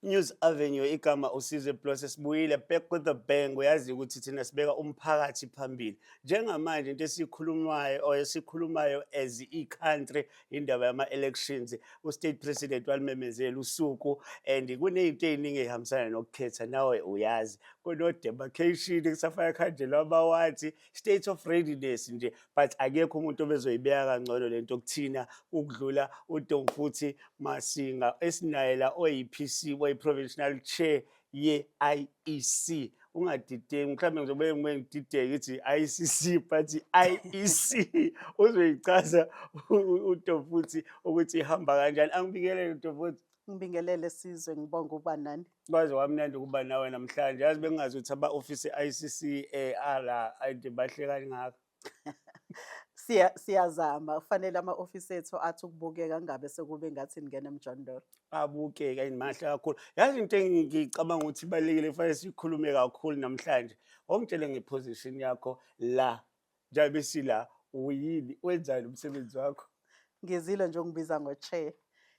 News Avenue igama uSizwe Plus sibuyile back with the bang uyazi ukuthi thina sibeka umphakathi phambili njengamanje into esikhulumayo or esikhulumayo as i-country indaba yama-elections u-state president walimemezela usuku and kuney'nto ey'ningi ey'hambisana nokukhetha nawe uyazi kuno-demarcation kusafana khanjelwa amawathi state of readiness nje but akekho umuntu obezoyibeka kangcono le nto kuthina ukudlula udomfuthi masinga esinayela oyi-p c oyi-provincial chair ye-IEC ungadideki mhlawumbe ngizobe ngibe ngidideke ithi ICC but IEC uzoyichaza uTofuthi ukuthi ihamba kanjani angibikelele uTofuthi ngibingelele sizwe ngibonga ukuba nani kwaze wamnandi ukuba nawe namhlanje yazi bengingazi ukuthi aba-ofisi i-ICC eh ala ayide bahle kangaka siya siyazama kufanele ama office ethu athi ukubukeka ngabe sekube ngathi ningena emjondolo abukeke ayinmahle kakhulu yazi into engicabanga ukuthi ibalekile kufanele sikhulume kakhulu namhlanje ongitshele ngeposition yakho la njengoba sila uyini wenzani umsebenzi wakho ngizile nje ungibiza ngo chair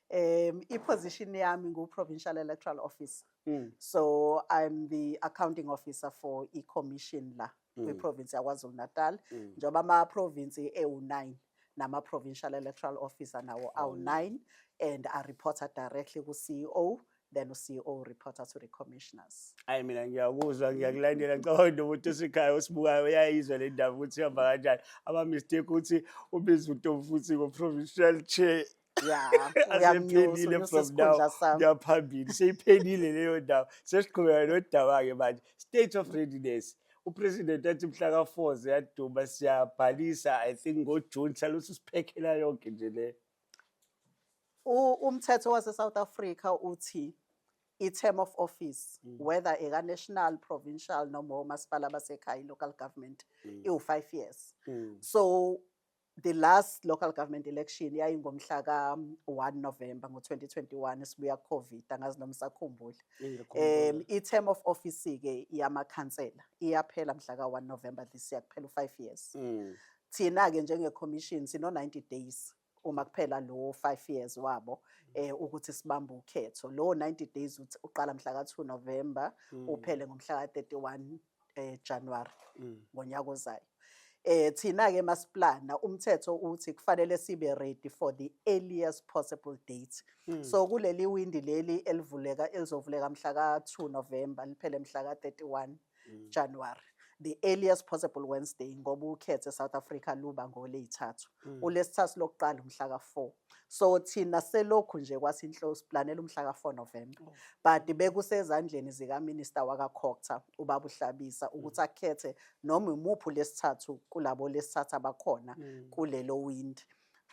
um iposition yami ngu provincial electoral officer mm. so i'm the accounting officer for i commission la mm. kwiprovinsi yakwazulu-natal mm. njengoba amaprovinsi ewu-9 nama-provincial electoral officer nawo awu-9 and areporter directly ku-ceo then uCEO reporter to the commissioners. Hayi mina ngiyakuzwa ngiyakulandela ngicabanga into ukuthi usikhaya osibukayo uyayizwa le ndaba ukuthi ihamba kanjani. Ama mistake ukuthi ubiza uTofu futhi ngo provincial chair ya asephelile from now uyamnyusa sami kuya phambili seyiphelile leyo ndawo sesiqhubeka nodaba-ke manje state of readiness upresident athi mhla ka-four ziyaduma siyabhalisa i think ngojune salothi usiphekhela yonke nje le U- umthetho wase-south africa uthi i-term of office Mm. whether eka-national provincial noma omasipala basekhaya i-local government Mm. iwu-five years Mm. so the last local government election yayingomhla ka-1 november ngo-2021 esibuya covid angazi noma sakhumbula um i-term of office-ke yamakhansela iyaphela mhla ka-1 november this year kuphela u-five years mm. thina-ke njengecommission sino-90 days uma kuphela lowo five years wabo eh ukuthi sibambe ukhetho lowo 90 days uqala mhla ka 2 November mm. uphele ngomhla ka 31 eh January ngonyaka ozayo eh thina ke masiplana umthetho uthi kufanele sibe ready for the earliest possible date mm. so kuleli windi leli elivuleka elizovuleka mhla ka 2 November liphele mhla ka 31 mm. January the earliest possible Wednesday ngoba ukhethe South Africa luba ngoleyithathu mm. ulesithathu lokuqala umhla ka 4 so thina selokhu nje kwasinhlo siplanela umhla ka-4 november oh. but bekusezandleni zikaminista wakakhokta ubaba uhlabisa mm. ukuthi akhethe noma imuphi lesithathu kulabo lesithathu abakhona mm. kulelo windi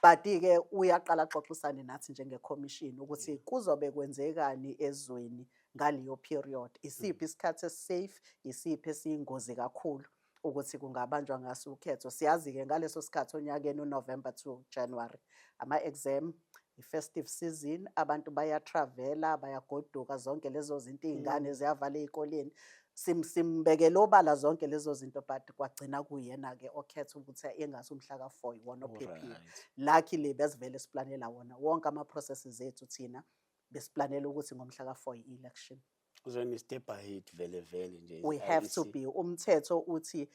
but-ke uyaqala axoxisane nathi njengekhomishini ukuthi mm. kuzobe kwenzekani ezweni ngaleyo period isiphi isikhathi esisafe isiphi esiyingozi kakhulu ukuthi kungabanjwa ngaso ukhetho siyazi-ke ngaleso sikhathi onyakeni unovember to january ama-exam i-festive season abantu bayatravela bayagoduka zonke lezo zinto iy'ngane mm. ziyavala ey'koleni simbekele obala zonke lezo zinto but kwagcina kuyena-ke okhetha ukuthi engathi umhla ka-four iwona ophephile lucky le besivele siplanela wona wonke ama-processes ethu thina besiplanela ukuthi ngomhla ka-four i-election Uzweni step ahead vele vele nje. we have to be umthetho uthi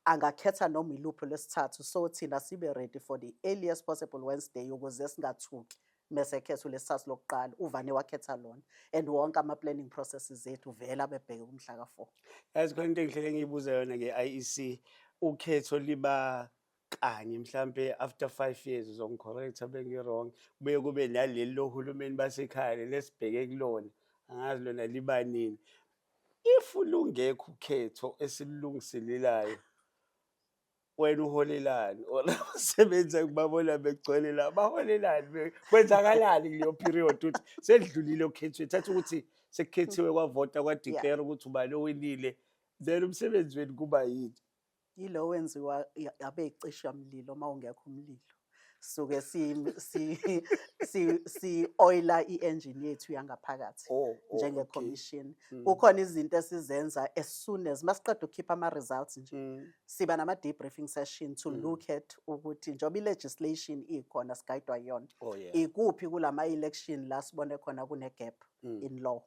angakhetha noma iluphi lwesithathu so thina sibe ready for the earliest possible wednesday ukuze singathuki mese ekhetha ulesithathu lokuqala uvane wakhetha lona and wonke ama-planning processes ethu vele abebheke kumhla ka-four Yazi khona into engihlele ngiyibuza yona nge-IEC ukhetho liba kanye mhlampe after 5 years uzongicorrecta bengi-wrong kubuye kube naleli lohulumeni basekhaya leli esibheke kulona angazi lona libanini if lungekho ukhetho esililungiselelayo wena uholelani or abasebenzi engibabona begcwele la baholelani kwenzakalani kuleyo period ukuthi sedlulile okhethweni thatha ukuthi sekukhethiwe kwavota kwadeclare ukuthi ubani owinile then umsebenzi wenu kuba yini Yilo wenziwa abecishamlilo uma ungekho umlilo. Suke si si si si oila i-engine yethu yangaphakathi Oh, oh, okay. njenge commission. Mm. Kukhona izinto esizenza as soon as masiqeda ukukhipha ama results nje. Mm. Siba nama debriefing session to Mm. look at ukuthi njengoba i legislation ikhona sigayidwa yona. Oh yeah. Ikuphi kulama election la sibone khona kune gap Mm. in law.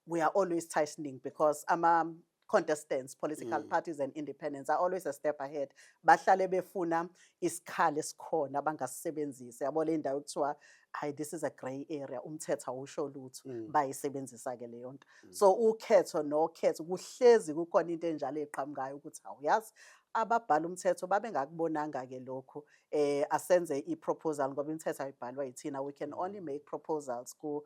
We are always tightening because ama contestants political mm. parties and independents are always a step ahead bahlale befuna isikhali esikhona bangasisebenzisi yabo le ndawo kuthiwa hayi this is a grey area umthetho awusho lutho mm. bayisebenzisa ke leyo nto mm. so ukhetho nokhetho kuhlezi kukhona into enjalo eqhamukayo ukuthi awuyazi ababhala umthetho babengakubonanga ke lokho eh asenze iproposal ngoba imithetho ayibhalwa yithina we can only mm. make proposals ku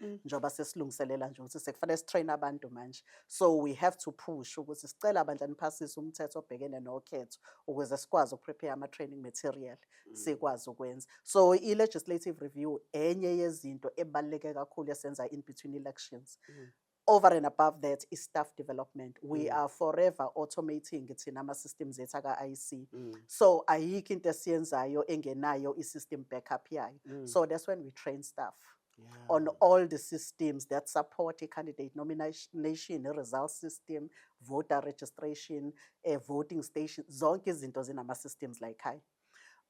Mm. njengoba sesilungiselela nje ukuthi sekufanele sitrain abantu manje so we have to push ukuthi sicela bandla niphasise umthetho obhekene nokhetho ukuze sikwazi ukuprepare ama-training material mm. sikwazi ukwenza so i-legislative review enye yezinto ebaluleke kakhulu esenza in between elections mm. over and above that is staff development we mm. are forever automating thina ama-systems ethu aka-ic mm. so ayikho into esiyenzayo engenayo i-system backup yayo mm. so that's when we train staff yeah. on all the systems that support i-candidate nomination, i-result system, voter registration, a eh, voting station, zonke izinto zinama-systems like high.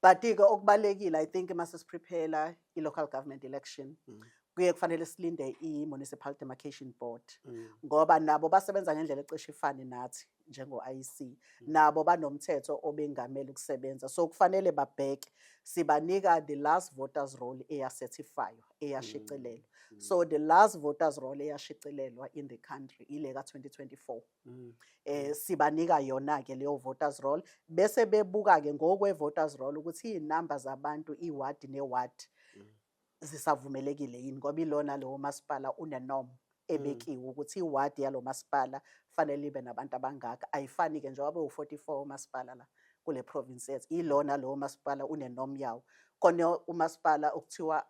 But-ke okubalekile I think uma sesiprepare i-local government election mm. kuye kufanele silinde i-municipal demarcation board mm. ngoba nabo basebenza ngendlela ecishe ifane nathi njengo-IC mm. nabo banomthetho obengamele ukusebenza so kufanele babheke sibanika the last voters roll eyacertifywa eyashicilelwa mm. mm. so the last voters roll eyashicilelwa in the country ile ka-2024 mm. eh sibanika yona ke leyo voters roll bese bebuka ke ngokwe voters roll ukuthi izinamba zabantu iward neward zisavumelekile yini ngoba ilona lowo masipala unenom mm. ebekiwe ukuthi iwadi yalo masipala fanele ibe nabantu abangaka ayifani-ke njengoba bewu-44 umasipala la kule province yethu ilona lowo masipala unenom yawo kone umasipala okuthiwa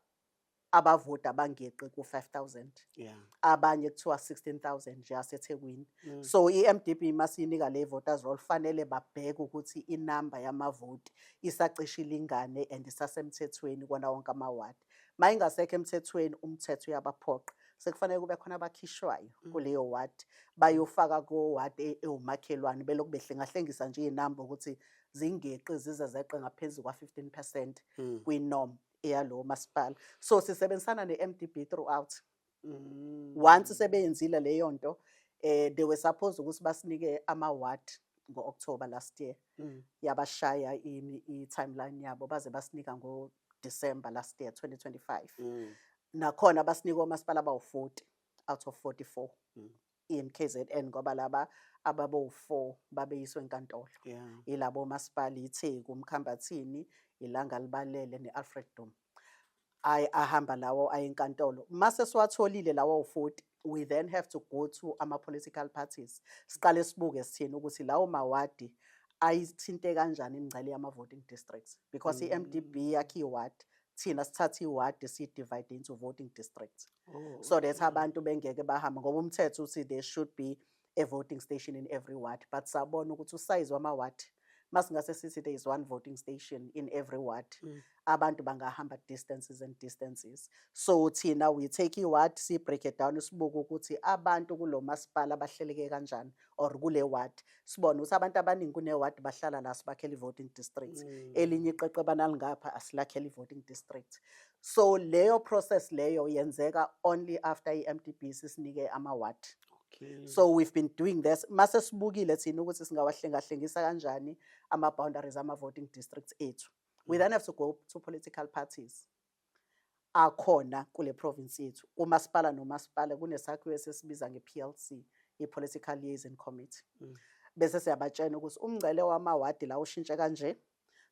abavoti abangeqi ku-5000 yeah. abanye kuthiwa 16000 nje asethekwini mm. so i-mdp masiyinika le voters roll fanele babheke ukuthi inamba yamavoti isacishe ilingane and isasemthethweni kona wonke amawadi uma ingasekho emthethweni umthetho uyabaphoqa sekufanele kube khona abakhishwayo mm. kuleyo wadi bayofaka kowadi e, ewumakhelwane belokhu behlengahlengisa nje iy'namba ukuthi zingeqi zize zeqe ngaphezu kwa-15 percent mm. kwinom eyalowo masipala so sisebenzisana ne-m d b throughout Mm. Once sebeyenzile leyo nto eh they were supposed ukuthi basinike ama ward ngo-October last year mm. yabashaya ini i-timeline yabo baze basinika ngo-December last year 2025 mm. nakhona basinika omasipala abawu-40 out of 44 mm. iMKZN ngoba laba ababowu-4 babeyiswe enkantolo yeah. yilabo omasipala iTheku, uMkhambathini, iLanga Libalele ne-Alfred Duma. Ay ahamba lawo ayenkantolo. Mase siwatholile lawo u-40 we then have to go to ama-political parties siqale sibuke sithini ukuthi lawo mawadi ayithinte kanjani imingcele yama-voting districts because mm. i-MDB yakhe iwadi thina sithatha iwadi siyi-divide into voting district oh, so that abantu bengeke bahambe ngoba umthetho uthi there should be a voting station in every ward but sabona ukuthi usayizi wamawadi masingase sithi there is one voting station in every ward mm. abantu bangahamba distances and distances so thina we take iward siyibreake down sibuke ukuthi abantu kulo masipala abahleleke kanjani or kule ward sibone ukuthi abantu abaningi kune ward bahlala la sibakhele voting district mm. elinye iqeqe banalingapha asilakhele voting district so leyo process leyo yenzeka only after iMDB sisinike ama ward Okay. So we've been doing this mase sibukile thina ukuthi singawahlengahlengisa kanjani ama boundaries ama voting districts ethu. We mm. then have to go to political parties. akhona kule province yethu umasipala nomasipala kunesakhiwo esesibiza nge-plc i-political liaison committee mm. bese siyabatshena ukuthi umngcele wamawadi la ushintshe kanje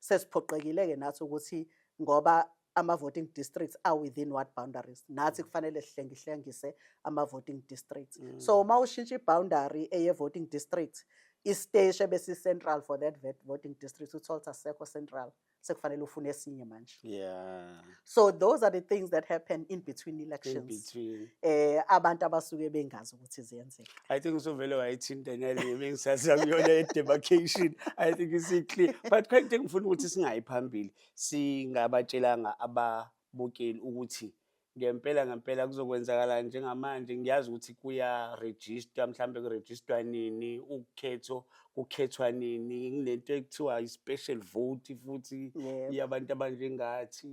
sesiphoqekile-ke nathi ukuthi ngoba ama-voting districts are within what boundaries nathi mm. kufanele sihlengihlengise ama-voting districts mm. so uma ushintsha i-boundary eye-voting district isiteshi ebesi-central for that voting district uthole ukuthi asekho central sekufanele ufune esinye manje yeah so those are the things that happen in between elections in between eh abantu abasuke bengazi ukuthi ziyenzeka i think usuvele wayithinta nale bengisaza kuyona edemarcation i think is clear but quite thing ngifuna ukuthi singayi phambili singabatshelanga ababukeli ukuthi Ngempela ngempela kuzokwenzakala njengamanje ngiyazi ukuthi kuya-register mhlawumbe kurejistwa nini ukhetho kukhethwa nini kunento ekuthiwa i-special vote futhi Yebo. yabantu abanjengathi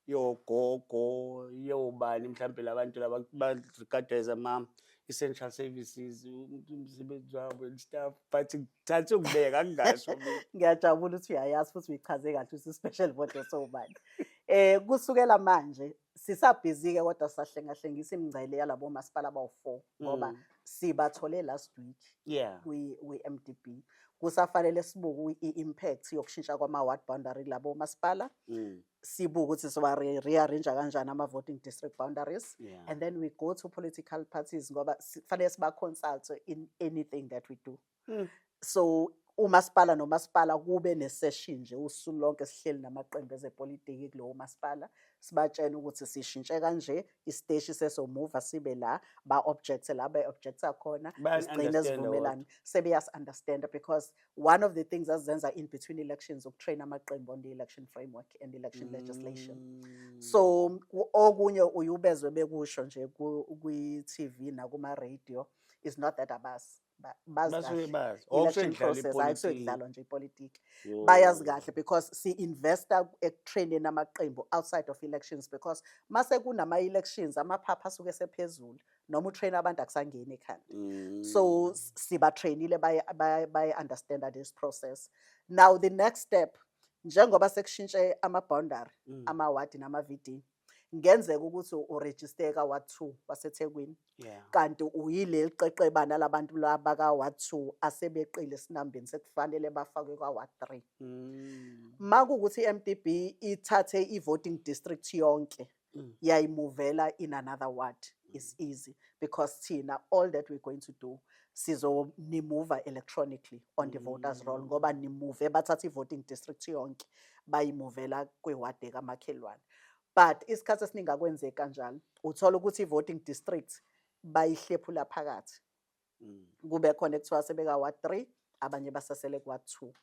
yogogo yobani mhlawumbe labantu laba ba-regardwa as ama-essential services umuntu umsebenzi wabo and stuff but ngithathe ukubeka ngingasho mina ngiyajabula ukuthi uyayazi futhi uyichaze kahle ukuthi i-special vote esowubani Eh kusukela manje sisabhizike kodwa sahlengahlengisa imingcele yalabo masipala abawu-4 ngoba mm. sibathole last week yeah. kwi-MDB kusafanele sibuke i-impact yokushintsha kwama-ward boundary kulabo masipala mm. sibuke ukuthi siwa-rearrange kanjani ama-voting district boundaries yeah. and then we go to political parties ngoba kufanele siba-consult in anything that we do Hmm. so umasipala nomasipala kube nesession nje usuku lonke sihleli namaqembu ezepolitiki kulowo masipala sibatshena ukuthi sishintshe kanje isiteshi sesomuva sibe la ba objects la ba objects akhona sigcine sivumelana sebeyas understand because one of the things azenza in between elections ukutrain amaqembu on the election framework and election legislation mm. so okunye uyubezwe bekusho nje kwi TV nakuma radio is not that abasi basuke bazi oh, election process hayi kusuke kudlalwa nje ipolitiki bayazi kahle because si-investa ekutraineni amaqembu outside of elections because mase kunama-elections amaphapha asuke sephezulu noma utrain abantu akusangeni ekhanda mm. so sibatrainile baye-understanda this process now the next step njengoba sekushintshe ama-boundary mm. amawadi nama-vd ngenzeka ukuthi urejisteka wa 2 waseThekwini yeah. kanti uyileli qeqebana labantu laba ka wa 2 asebeqile sinambeni sekufanele bafakwe kwa wa 3 mm. makukuthi iMDB ithathe ivoting district yonke mm. yayimuvela in another ward mm. is easy because thina all that we're going to do sizonimuva electronically on the mm. voters roll ngoba nimuve bathatha ivoting district yonke bayimuvela kwiward ekamakhelwane But isikhathi esiningi akwenzeki kanjalo. Uthola ukuthi i-voting district bayihlephula phakathi. Mm. Kube khona ekuthiwa sebeka wa 3 abanye basasele kwa 2.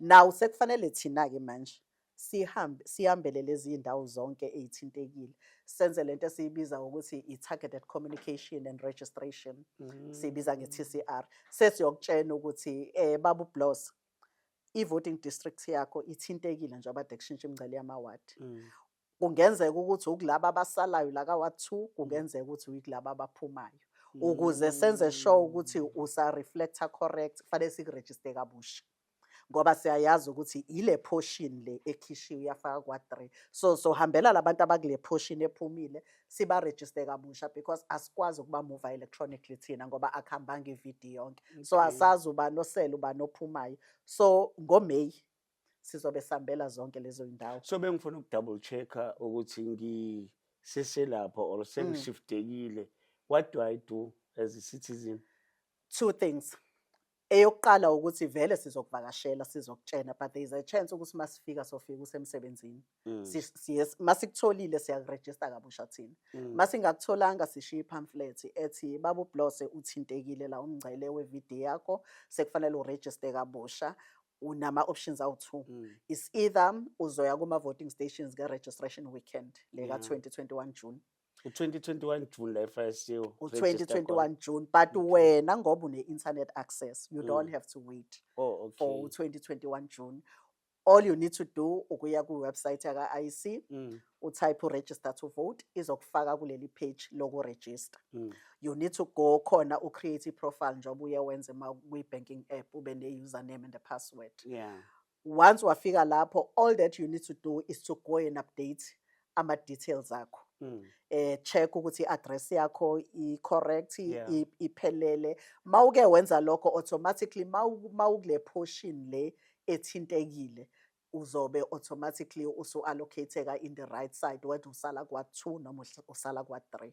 Now sekufanele thina ke manje sihambe sihambele lezi indawo zonke ezithintekile senze lento esiyibiza ukuthi i-targeted communication and registration mm. siyibiza nge-TCR sesiyokutshena ukuthi eh babu Bloss i voting district yakho ithintekile njengoba de kushintsha imingcele yamawadi mm. kungenzeka ukuthi ukulaba abasalayo la ka ward 2 kungenzeka ukuthi uyikulaba abaphumayo mm. ukuze senze sure ukuthi usa reflector correct kufanele sikuregister kabusha ngoba siyayazi ukuthi ile portion le ekhishiwe yafaka kwa 3 so so hambela labantu abakule portion ephumile sibarejiste kabusha because asikwazi ukuba mova electronically thina ngoba akuhambanga ividiyo yonke so asazi uba nosele uba nophumayo so ngomeyi sizobe sihambela zonke lezo yindawo so bengifuna ukudouble check-a ukuthi ngiseselapho or sengishiftekile mm. what do i do as a citizen two things Eyokuqala ukuthi vele sizokuvakashela sizokutshena but there is a chance ukuthi masifika sofika usemsebenzini. Mm. Si- siye- Masikutholile siyakurejista kabusha thina. Mm. Masingakutholanga sishiya i-pamphlet ethi babu Blose uthintekile la umngcele we-VD yakho sekufanele urejiste kabusha unama options awu-2. Mm. Is either uzoya kuma voting stations nge registration weekend leka Yeah. 2021 June. u-2021 june la efasiyo u-2021 june but wena ngoba une-internet access you mm. don't have to wait oh, okay. for u-2021 june all you need to do ukuya kwiwebsite yaka-iec mm. utype uregister to vote izokufaka kuleli page lokuregister mm. you need to go khona ucreate iprofile njengoba uye wenze kwi-banking app ube ne-username and a password yeah. once wafika lapho all that you need to do is to go and update ama details akho mm. eh check ukuthi address yakho i correct yeah. iphelele mawuke wenza lokho automatically mawukule portion le ethintekile uzobe automatically usu allocateka in the right side whether usala kwa 2 noma usala kwa 3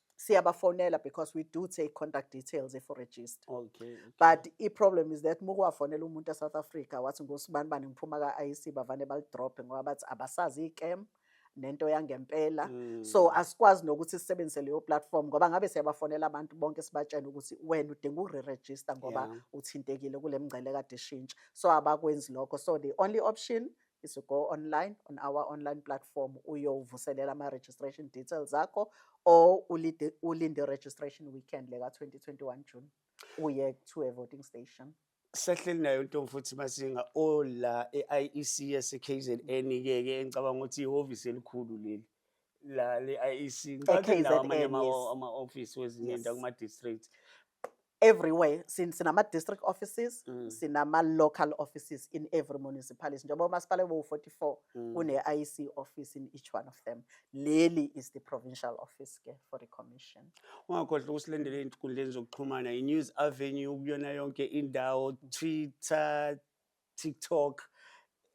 siyabafonela because we do take contact details if register okay, okay. but i-problem is that mukuwafonela umuntu e-south africa wathi ngosibani bani ngiphuma ka-iec bavane balidrophe ngoba bathi abasazi i-cam nento yangempela mm. so asikwazi nokuthi sisebenzise leyo platform ngoba ngabe siyabafonela abantu bonke sibatshela ukuthi wena udinga ukure-register ngoba yeah. uthintekile kule mngcele kade ishintsha so abakwenzi lokho so the only option is to go online on our online platform uyovuselela ama-registration details akho or ulinde, ulinde registration weekend leka-2021 june uye to a voting station sehleli nayo ntombi futhi masinga ola e-iec yasekzn-ke-ke engicabanga ukuthi ihhovisi elikhulu leli la le IEC ngicabanga E nawo amanye KZN, ama- yes. ama office wezinye Yes. indawo kuma districts everywhere Sin- sinama district offices Mm. sinama local offices in every municipality njengoba umasipala bowu-44 Mm. une-iec office in each one of them leli is the provincial office ke for the commission ungakhohlwa ukusilandela ezinkundleni zokuxhumana i-news avenue kuyona yonke indawo twitter TikTok,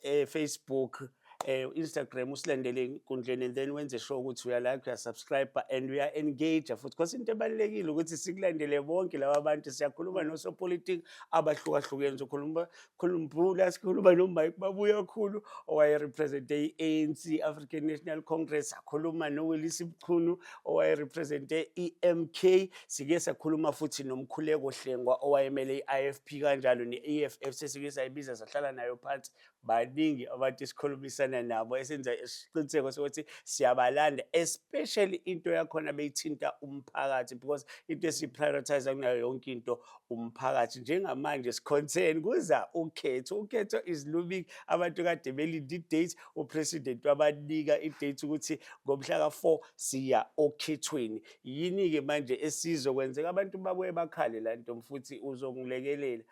eh, Facebook, eh, Instagram usilandele enkundleni and then wenze sure ukuthi uya like uya subscribe and uya engage futhi because into ebalekile ukuthi sikulandele bonke laba abantu siyakhuluma nosopolitiki abahlukahlukene sokhuluma khuluma sikhuluma no Mike babuya khulu owaye represent ANC African National Congress akhuluma no Willis Mchunu owaye represent iMK Sike sakhuluma futhi noMkhuleko Hlengwa owayemele i-IFP kanjalo ne-EFF sesike sayibiza sahlala nayo phansi baningi abantu esikhulumisana nabo esenza isiqiniseko sokuthi siyabalanda especially into yakhona beyithinta umphakathi because into esiprioritize kunayo yonke into umphakathi njengamanje siconcern kuza ukhetho ukhetho is looming abantu kade belinde i-date upresident wabanika i-date ukuthi ngomhla ka-4 siya okhethweni Yini-ke manje esizo kwenzeka abantu bakuye bakhale la ntombi futhi uzongilekelela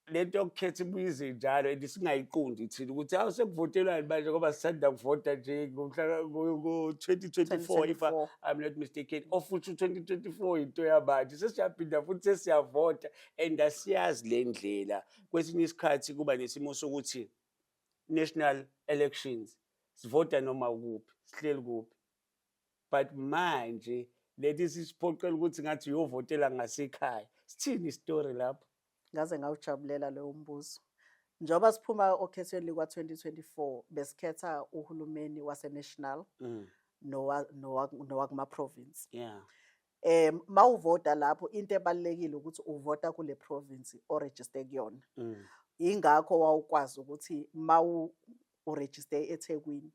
le nto yokukhetha ibuyize njalo and singayiqundi thina ukuthi hawu sekuvotelwani manje ngoba sisanda kuvota nje ngo-twenty twenty four if i'm not mistaken ofuthi u-twenty twenty four yinto yamanje sesiyaphinda futhi sesiyavota and asiyazi le ndlela kwesinye isikhathi kuba nesimo sokuthi national elections sivota noma ukuphi sihleli kuphi but manje leti sisiphoqela ukuthi ngathi uyovotela ngasekhaya sithini istory lapho ngaze ngawujabulela lowo mbuzo njengoba siphuma okhethweni likwa-2024 besikhetha uhulumeni wasenational mm. nowakumaprovince yeah. um mawuvota lapho into ebalulekile ukuthi uvota kule province oregister kuyona mm. ingakho wawukwazi ukuthi mawu uregister eThekwini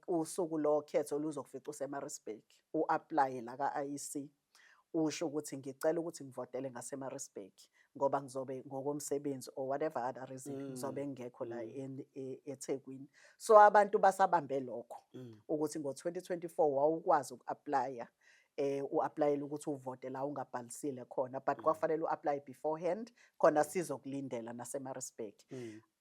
usuku lo khetho luzokufica useMaritzburg uapply la kaIC usho ukuthi ngicela ukuthi ngivotele ngaseMaritzburg ngoba ngizobe ngokomsebenzi or whatever other reason mm. ngizobe mm. ngingekho la mm. e, eThekwini so abantu basabambe lokho mm. ukuthi ngo2024 wawukwazi ukuapply eh uapplyela ukuthi uvote la ungabhalisile khona but mm. kwafanele uapply beforehand khona sizokulindela naseMaritzburg mm.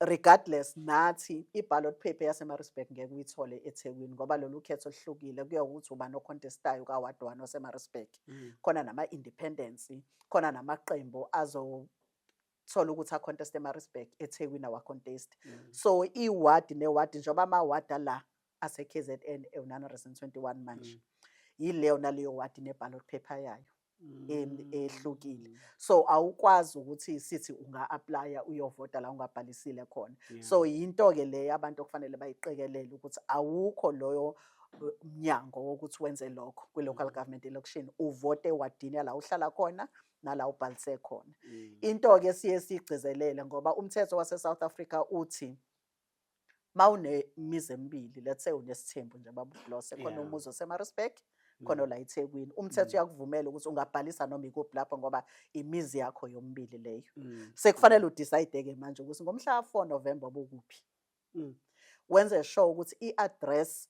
Regardless nathi i-ballot paper yaseMaritzburg ngeke uyithole eThekwini ngoba lolu khetho luhlukile kuya ukuthi ubani ocontestayo ka-ward one waseMaritzburg. Mm. Khona nama-independence, khona namaqembu azothola ukuthi aconteste eMaritzburg, eThekwini awacontesti. Mm. So iwadi newadi njengoba amawadi ala ase-KZN ewu-921 manje. Mm. Yileyo naleyo wadi ne-ballot paper yayo. ehlukile so awukwazi ukuthi sithi unga-aplaya uyovota la ungabhalisile khona so yinto-ke leyo abantu okufanele bayiqikelele ukuthi awukho loyo mnyango wokuthi wenze lokho kwi-local mm. government election uvote ewadini yala uhlala khona nala ubhalise khona mm. into-ke siye siyigcizelele ngoba umthetho wase-south africa uthi mawunemizi emibili let's say unesithembu nje baba uBlose khona Yeah. umuzi oseMaritzburg khona ola eThekwini umthetho uyakuvumela ukuthi ungabhalisa noma ikuphi lapho ngoba imizi yakho yomibili leyo Mm. sekufanele udecide-ke manje ukuthi ngomhla ka-4 november bokuphi Mm. wenze sure ukuthi i-address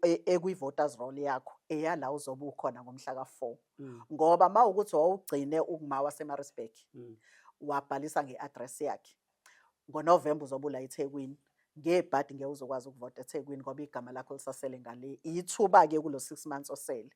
E, ekwi-voters roll yakho eyala uzobe ukhona ngomhla ka-four mm. ngoba ma ukuthi wawugcine ukuma wasemarisburg mm. wabhalisa nge-address yakhe ngonovemba uzobe ula ethekwini ngebhadi ngeke uzokwazi ukuvota ethekwini ngoba igama lakho lisasele ngale ithuba-ke kulo six months osele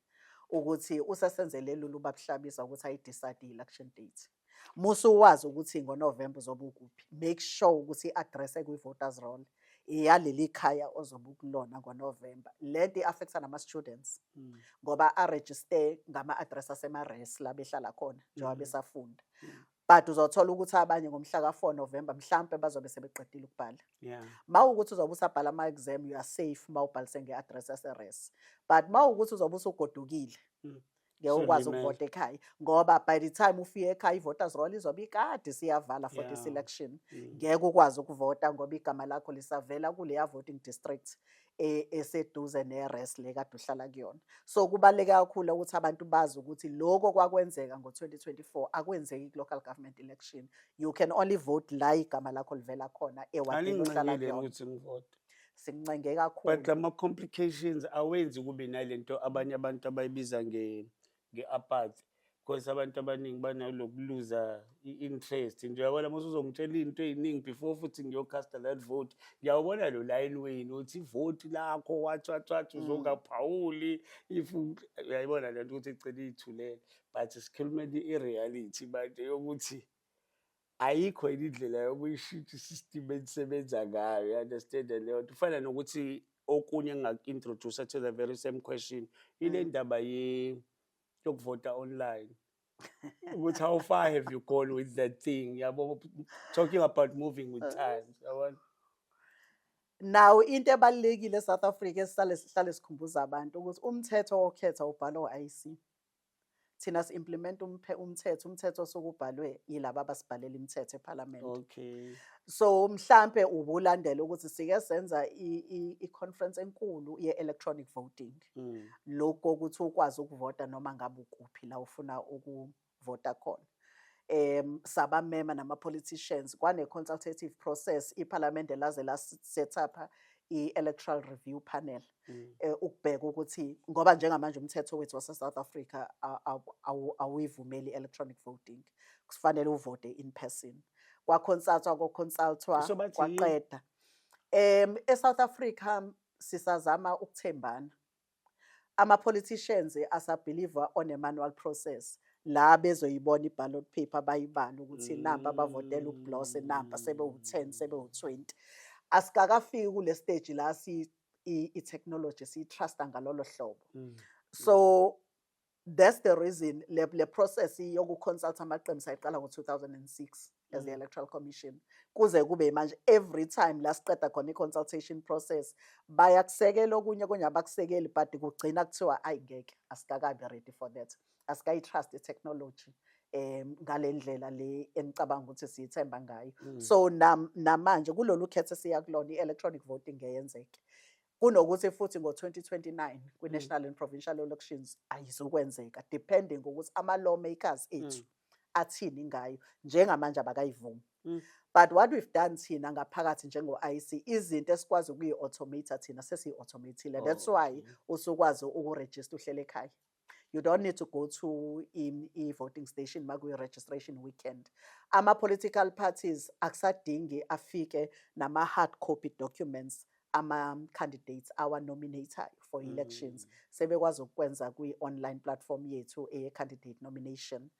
ukuthi usesenzele lula ubabuhlabisa ukuthi ayi-decide i-election date Musa uwazi ukuthi ngoNovemba uzobe ukuphi. Make sure ukuthi i-address ekwi-voters roll iyaleli khaya ozobe ukulona ngoNovemba. Le nto i-affecta nama-students mm. ngoba arejiste ngama-address asema-res la behlala khona njengoba mm. besafunda. Mm. But uzothola ukuthi abanye ngomhla ka-4 November mhlampe bazobe sebeqedile ukubhala. Yeah. Mawukuthi uzobe usabhala ama exam you are safe mawubhalise ngeaddress yase-res. But mawukuthi uzobe usugodukile. Mm. ngeke ukwazi ukuvota ekhaya ngoba by the time ufike ekhaya i-voters roll izobe ikade siyavala for yeah. this election mm. ngeke mm. ukwazi ukuvota ngoba igama lakho lisavela kuleya voting district e, eseduze ne-res le kade uhlala kuyona so kubaluleke kakhulu ukuthi abantu bazi ukuthi loko kwakwenzeka ngo-2024 akwenzeki ku-local government election you can only vote la igama lakho livela khona ewadini ohlala kuyona sincenge kakhulu but lama complications awenzi kube nalento abanye abantu abayibiza nge nge-apathy because abantu abaningi banalokuluza i-interest nje uyabona mase uzongitshela into ey'ningi before futhi ngiyocasta that vote ngiyawubona lo layini wenu uthi ivoti lakho watshatshatsha mm. uzongaphawuli if uyayibona le nto ukuthi igcine iyithulele but sikhulumela i-reality manje yokuthi ayikho yini indlela yokuyishintsha i-system enisebenza ngayo you-understand leyo nto kufana nokuthi okunye engingaku-introduce to the very same question ile mm. ndaba yokuvota online ukuthi how far have you gone with that thing yabo talking about moving with uh. times yabona nawo into ebalulekile eSouth Africa esihlale sihlale sikhumbuza abantu ukuthi umthetho okhetha ubhalwa u-IC Thina si implement umphe- umthetho, umthetho osuke ubhalwe yilaba abasibhalela imithetho eParliament. Okay. So mhlambe ubulandela ukuthi sike senza i- i- i-conference enkulu ye-electronic voting. Mm. lokho ukuthi ukwazi ukuvota noma ngabe ukuphi la ufuna ukuvota khona um sabamema nama-politicians kwane-consultative process iphalamende laze la-set up i-electoral review panel mm. eh, ukubheka ukuthi ngoba njengamanje umthetho wethu wase-south africa awuyivumeli i-electronic voting kufanele uvote in person kwakhonsathwa kokhonsalthwa kwaqeda um e-south africa sisazama ukuthembana ama-politicians asabhiliva on a manual process la bezoyibona i-ballot paper bayibale ukuthi namba bavotela ublose namba sebewu-ten sebewu-twenty asikakafiki kule stage la i-technology siyi-trusta ngalolo hlobo mm. so that's the reason le, le process yokuconsulta amaqembu sayiqala ngo-2006 as the mm. electoral commission kuze kube manje every time la siqeda khona i-consultation process bayakusekela okunye okunye abakusekeli but kugcina kuthiwa ayi ngeke asikakabi ready for that asikayi trust i technology um ngalendlela le engicabanga ukuthi siyithemba ngayo mm. so nam, namanje kulolu khethe siya kulona i-electronic voting ngeyenzeke kunokuthi futhi ngo-2029 kwi-national mm. and provincial elections ayizukwenzeka depending ukuthi ama-lawmakers mm. ethu athini ngayo njengamanje abakayivumi mm. but what we've done thina ngaphakathi njengo-ic izinto esikwazi ukuyi-automata thina sesiyi-automatile that's oh, why usukwazi ukurejista uhlele ekhaya you don't need to go to in i-voting station makuyi-registration weekend ama-political parties akusadingi afike nama-hard copy documents ama-candidates awa-nominatayo for mm. elections mm. sebekwazi ukukwenza kwi-online platform yethu eye-candidate nomination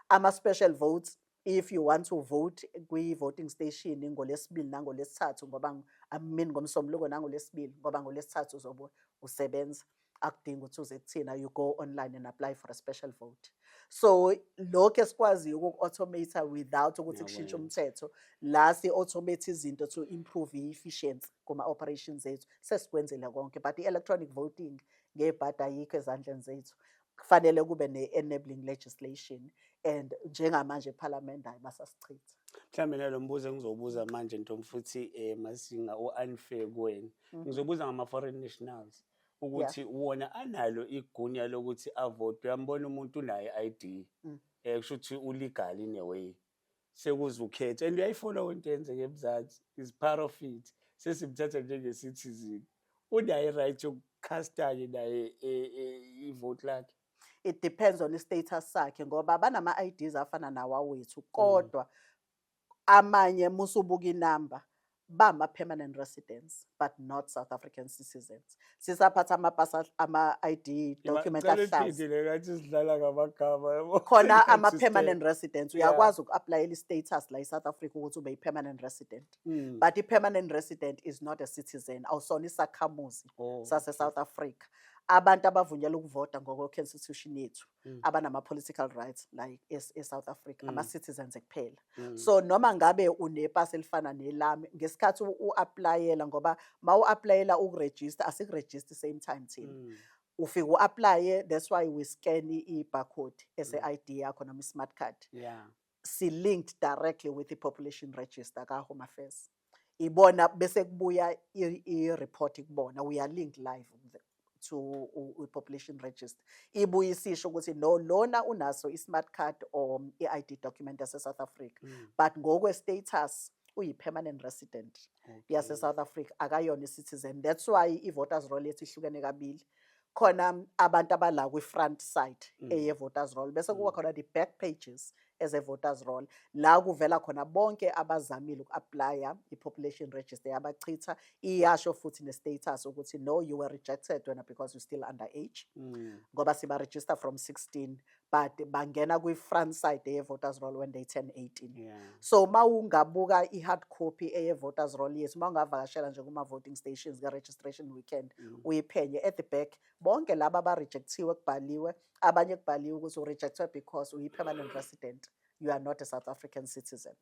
ama-special votes if you want to vote kwi-voting station ngolesibili nangolesithathu ngoba I mean ngomsombuluko nangolesibili ngoba ngolesithathu uzobe usebenza akudingi ukuthi uze kuthina you go online and apply for a special vote so lokho esikwaziyo ukuku-automate without ukuthi kushintshe umthetho la si-automate izinto to improve i-efficiency kuma-operations ethu sesikwenzile konke but i-electronic voting ngebhadi ayikho ezandleni zethu kufanele kube ne-enabling legislation and njengamanje ephalamende hayi basasichitha mhlawumbe nalo mbuzo engizobuza manje ntombi futhi um masinga u-unfair kuwena mm. ngizobuza ngama-foreign nationals ukuthi wona analo igunya lokuthi avotwe ambona umuntu unayo i-ID mm. eh kusho ukuthi ulegal in a way sekuze ukhethe and uyayifona into eyenzeka emzansi is part of it sesimthatha njenge-citizen unaye right yokukhasta-ke naye e, e, ivote lakhe it depends on i-status sakhe ngoba banama-ids afana nawawethu mm. kodwa amanye musubuka inamba bama permanent residents but not South African citizens sisaphatha amapasa ama ID document ahlaza khona ama permanent residents uyakwazi uku apply i status la South Africa ukuthi ube i permanent resident mm. but i permanent resident is not a citizen awusona isakhamuzi oh, sase South Africa abantu abavunyelwa ukuvota ngokwe constitution yethu mm. abanama political rights la e South Africa mm. ama citizens kuphela mm. so noma ngabe unepass elifana nelami ngesikhathi u applyela ngoba mawu applyela uku register asiku register same time thina mm. ufike uapply that's why we scan i barcode ese mm. ID yakho noma i smart card yeah si linked directly with i population register ka Home Affairs ibona bese kubuya i report kubona we are linked live to u population register ibuye isisho ukuthi no lona unaso i smart card or i ID document yase South Africa mm. but ngokwe status uyi permanent resident okay. yase South Africa akayona i citizen that's why i voters roll yethu ihlukene kabili khona abantu abala kwi-front side mm. eye-voters roll bese kuba mm. khona the-back pages eze-voters roll la kuvela khona bonke abazamile uku-aplya i-population register yabachitha iyasho futhi ne-status ukuthi no you were rejected wena because you still under age mm. ngoba siba-register from 16 but bangena kwi-front side eye-voters roll when they turn 18 yeah. so uma ungabuka i-hard copy eye-voters roll yethu uma ungavakashela nje kuma-voting stations ka-registration weekend mm. uyiphenye at the back bonke laba abarejecthiwe kubhaliwe abanye kubhaliwe ukuthi urejectwe because uyi-permanent resident you are not a south african citizen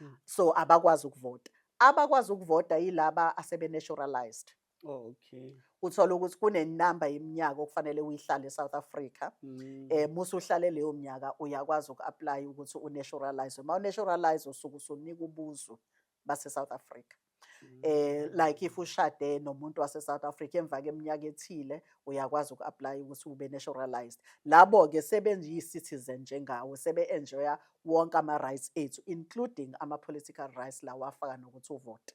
mm. so abakwazi ukuvota abakwazi ukuvota yilaba asebe-naturalized Okay. Uthola ukuthi kunenamba yeminyaka okufanele uyihlale eSouth Africa. Mm. Eh musu uhlale leyo minyaka uyakwazi ukuapply ukuthi unaturalize. Uma unaturalize usuku usunika ubuzo base South Africa. Mm. Eh like if ushade nomuntu wase South Africa emva keminyaka ethile uyakwazi ukuapply ukuthi ube naturalized. Labo ke sebenzi citizen njengawe sebe enjoya wonke ama rights ethu including ama political rights lawa afaka nokuthi uvote.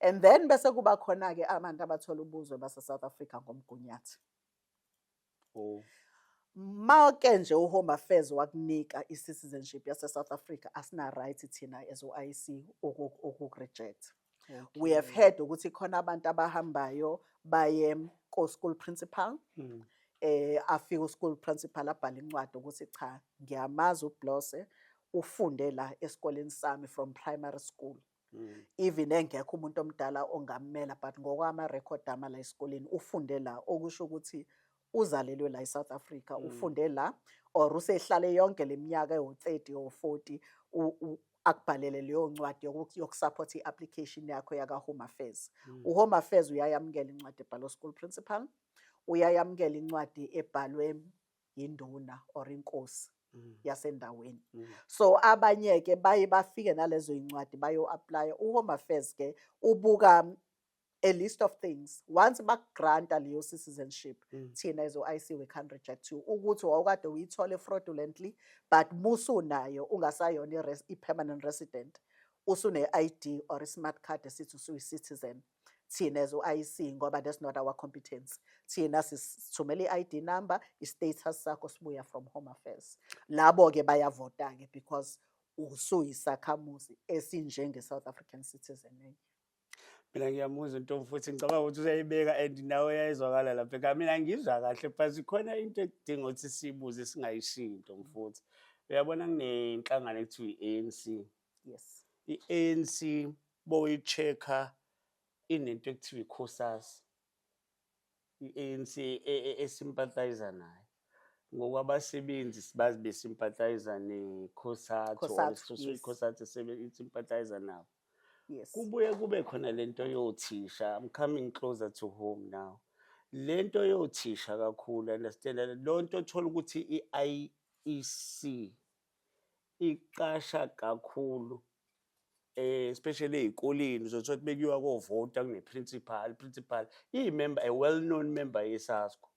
and then bese kuba khona-ke abantu abathola ubuzwe base-south africa ngomgunyathi oh. make nje uhome affairs wakunika i-citizenship yase-south africa asina-right thina as u-i c ukureject okay. we have heard ukuthi khona abantu abahambayo baye ko-school principal mm. eh afike u-school principal abhale incwadi ukuthi cha ngiyamazi ublose ufunde la esikoleni sami from primary school Mm. even engekho umuntu omdala ongammela but ngokwama record ama la esikoleni ufunde la okusho ukuthi uzalelwe la eSouth Africa mm. ufunde la or usehlale yonke leminyaka ewu30 or 40 akubhalele leyo ncwadi yokusupport i-application yakho yaka-home affairs mm. u-home affairs uyayamukela incwadi ebhalwe school principal uyayamukela incwadi ebhalwe yinduna or inkosi mm. yasendaweni mm. so abanye ke baye bafike nalezo incwadi bayo apply uHome Affairs ke ubuka a list of things once bakugranta leyo citizenship mm. thina as o-IC we can't reject you ukuthi wawukade uyithole fraudulently but musunayo ungasayona i-permanent resident usune-ID or i-smart card esithi usuyi-citizen thina as u-IC ngoba that's not our competence thina sithumela i-ID number i-status sakho sibuya from home affairs labo-ke bayavota-ke because usuyisakhamuzi esinjenge-south african citizen enye mina ngiyamuzwa into futhi ngicabanga ukuthi useyibeka and nawe yayizwakala lapha ekhaya mina ngizwa kahle but khona into ekudinga ukuthi siyibuze singayishinto mfuthi uyabona kunenhlangano ekuthiwa i-anc Yes. I-ANC boyi-check-a inento ekuthiwa ikhosasi. I-ANC e- e- e- esimpathayiza nayo. Ngokwabasebenzi sibazi besimpathayiza nekhosathu or Cosatu, isisoso yes. ikhosathu esebe- isimpathayiza nabo. Yes. Kubuye kube khona lento yothisha. I'm coming closer to home now. Lento yothisha kakhulu understand lonto othola ukuthi iIEC Iqasha kakhulu especially ey'koleni uzothola ukuthi bekuyiwa kovota kune-principal, principal iyi-member, a well known member yeSASCO.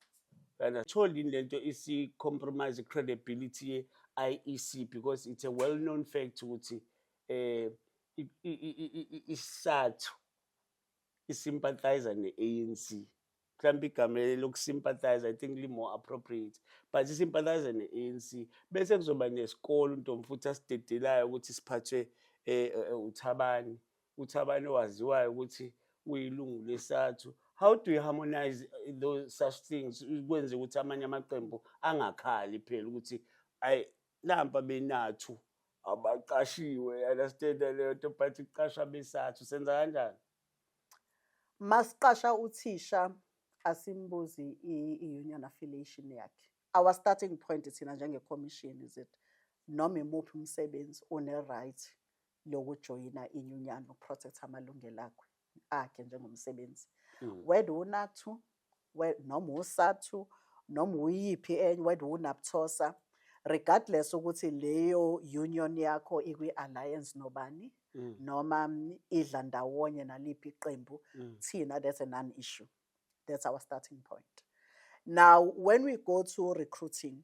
And atholi yini lento isi-compromise i-credibility ye-IEC because it's a well known fact ukuthi um isathu isympathizer ne-anc mhlawumbe igama lokusympathize i think li-more appropriate but isympathize ne-anc bese kuzoba nesikole untombi futhi asidedelayo ukuthi siphathwe um uthabani uthabani owaziwayo ukuthi uyilungu lesathu how do you harmonize those such things kwenze ukuthi amanye amaqembu angakhali phela ukuthi ayi nampa benathu abaqashiwe understand leyo nto but kuqashwa besathu senza kanjani masiqasha uthisha asimbuzi i-union affiliation yakhe our starting point thina njengecommission is it noma imuphi umsebenzi une-right lokujoyina inyunyana ukuprotect amalungelo akhe akhe njengomsebenzi mm. whether unathu word noma uSathu noma uyiphi enye word uNaptosa regardless ukuthi leyo union yakho ikwi alliance nobani mm. noma mm, idla ndawonye naliphi iqembu mm. thina that's a non issue that's our starting point now when we go to recruiting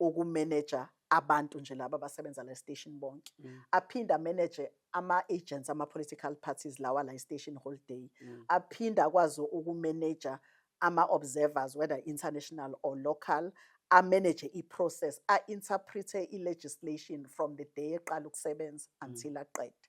ukumeneja abantu nje laba abasebenza la station bonke mm. aphinde ameneje ama-agents ama-political parties lawa la station whole day mm. aphinde akwazi ukumeneja ama-observers whether international or local ameneje i-process a-interprete i-legislation from the day eqala ukusebenza mm. until aqede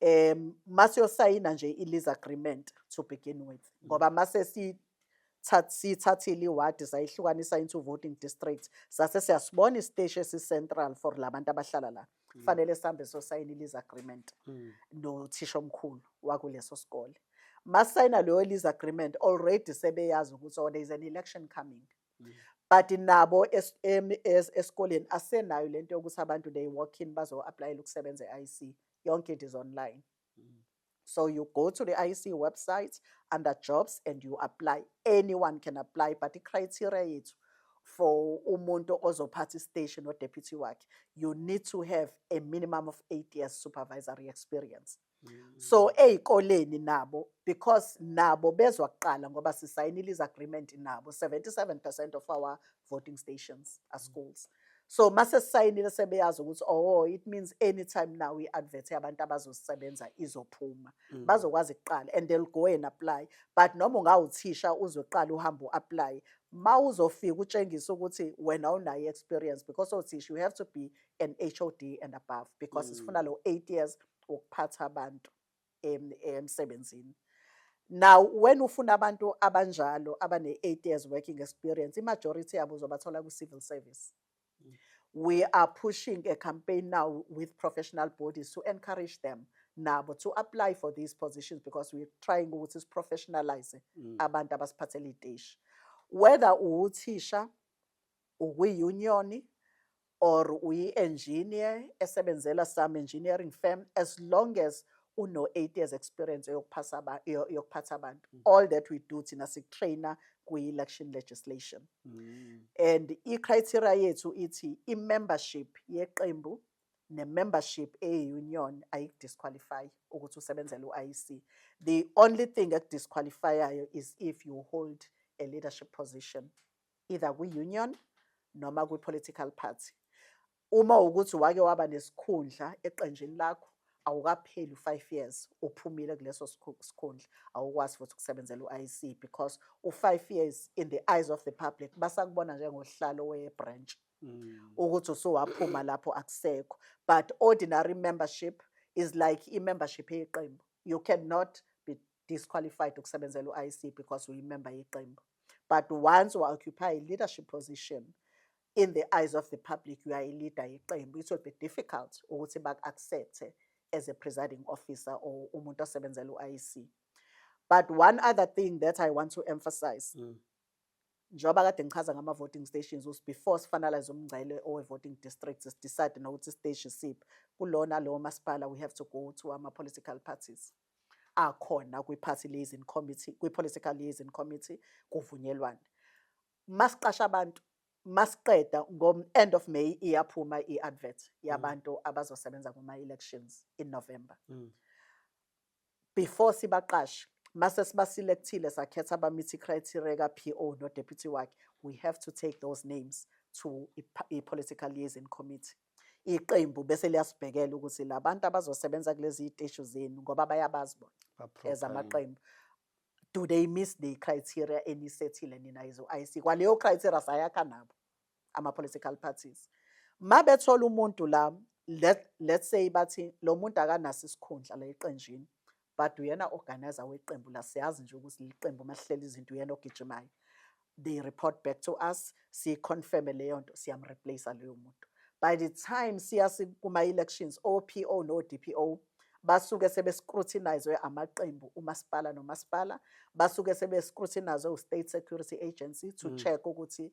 um masiyosayina nje i-lease agreement to begin with mm. ngoba mase siyithathile iwadi sayihlukanisa into voting district sase siyasibona isiteshi esicentral for la bantu abahlala la mm. kufanele mm. sihambe sosayina i-lease agreement mm. nothisha omkhulu wakuleso sikole masayina leyo lease agreement already sebeyazi ukuthi oh there is an election coming but nabo esikoleni asenayo lento yokuthi abantu they walk in bazo-aplayela ukusebenza e-IC yonke into is online mm. so you go to the IC website under jobs and you apply anyone can apply but i-criteria yethu for umuntu ozophatha istation no-deputy wakhe you need to have a minimum of eight years supervisory experience so mm. ezikoleni nabo because nabo bezwa kuqala ngoba sisayinile is agreement nabo 77% of our voting stations are schools so mase sisayinile sebeyazi ukuthi oh it means anytime now i-advert yabantu abazosebenza izophuma mm. bazokwazi kuqala and they'll go and apply but noma ungawuthisha uzwe kuqala uhambe u-apply ma uzofika utshengisa ukuthi wena unayo experience because othisha you have to be an HOD and above because mm. sifuna lo 8 years wokuphatha abantu emsebenzini now when ufuna abantu abanjalo abane-eight years working experience i-majority yabo uzobathola kwi-civil service mm. we are pushing a campaign now with professional bodies to encourage them nabo to apply for these positions because we're trying ukuthi siprofessionalize mm. abantu abasiphathela iy'teshi whether uwuthisha ukwiUnion or uyi-engineer esebenzela some engineering firm as long as uno 8 years experience yokuphasa yokuphatha abantu mm. all that we do thina sikutrainer kwi-election legislation mm. and i-criteria yethu ithi i-membership yeqembu ne-membership eye-union ayikudisqualify ukuthi usebenzele u-IEC the only thing ekudisqualifyayo is if you hold a leadership position either kwi-union noma kwi-political party uma ukuthi wake waba nesikhundla eqenjini lakho awukapheli u-five years uphumile kuleso sikhundla awukwazi futhi ukusebenzela u-IC because u-five years in the eyes of the public basakubona njengohlalo we-branch mm. ukuthi usuwaphuma lapho akusekho but ordinary membership is like i-membership yeqembu you cannot be disqualified ukusebenzela u-IEC because uyimember yeqembu but once wa-occupy i-leadership position in the eyes of the public you are a leader yeqembu it will be difficult ukuthi baku-accepte as a presiding officer or umuntu osebenzela u-IEC but one other thing that i want to emphasize mm. njengoba kade ngichaza ngama-voting stations ukuthi before sifanalize umngcele owe-voting district sidecide nokuthi isiteshi siphi kulona lowo masipala we have to go to ama-political parties akhona kwi-party liaison committee, kwi-political liaison committee kuvunyelwane. Masiqasha abantu masiqeda ngo-end of May iyaphuma i-advert yabantu mm. abazosebenza kuma-elections in November. Mm. Before sibaqashe mase sibaselectile sakhetha abamithi criteria ka-PO no-deputy wakhe we have to take those names to i-political liaison committee iqembu bese liyasibhekela ukuthi labantu abazosebenza kulezi iteshi zenu ngoba bayabazi bona as amaqembu do they miss the criteria enisethile nina yizo IC kwaleyo criteria sayakha nabo ama political parties mabethola umuntu la let let's say bathi lo muntu akanaso isikhundla la eqenjini but uyena organizer weqembu la siyazi nje ukuthi liqembu mahlele izinto uyena ogijimayo they report back to us si confirm leyo nto siyam replace leyo muntu by the time siya kuma elections OPO no DPO basuke sebe scrutinizwe amaqembu umasipala nomasipala basuke sebe scrutinizwe u state security agency to mm. check ukuthi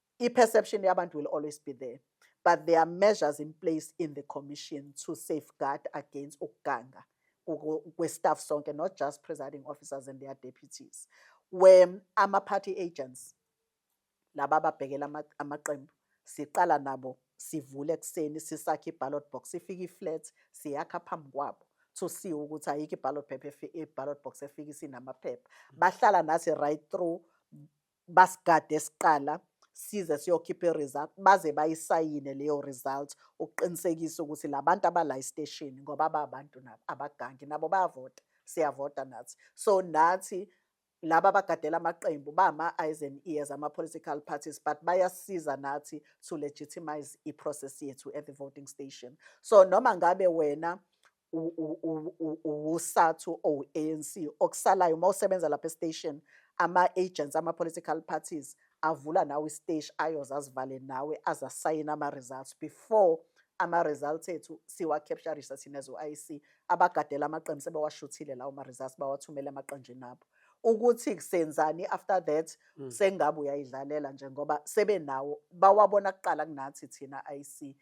I perception yabantu will always be there but there are measures in place in the commission to safeguard against ukuganga kwe-staff sonke not just presiding officers and their deputies where ama-party agents laba ababhekela amaqembu siqala nabo sivule ekuseni sisakhe i-ballot box sifike i-flat siyakha phambi kwabo to see ukuthi ayikho i-ballot paper i-ballot box efike isinamaphepha mm. bahlala nathi right through Basigade siqala size siyokhipha i-result baze bayisayine leyo result ukuqinisekisa ukuthi la bantu abala esiteshini ngoba babantu nabo abagangi nabo bayavota siyavota nathi so nathi laba abagadela amaqembu bama-eyes and ears ama-political parties but bayasiza nathi to legitimize i-process yethu at the voting station so noma ngabe wena uwusathu owu-anc okusalayo uma usebenza lapha estation ama-agents ama-political parties avula nawe isiteshi ayoze azivale nawe aze asayine ama-results before ama-results ethu siwa-capturisa thina zo-ic abagadela amaqembu sebewashuthile lawo ma-results bawathumele emaqenjini abo ukuthi kusenzani after that mm. sengabe uyayidlalela nje ngoba sebenawo bawabona kuqala kunathi thina IC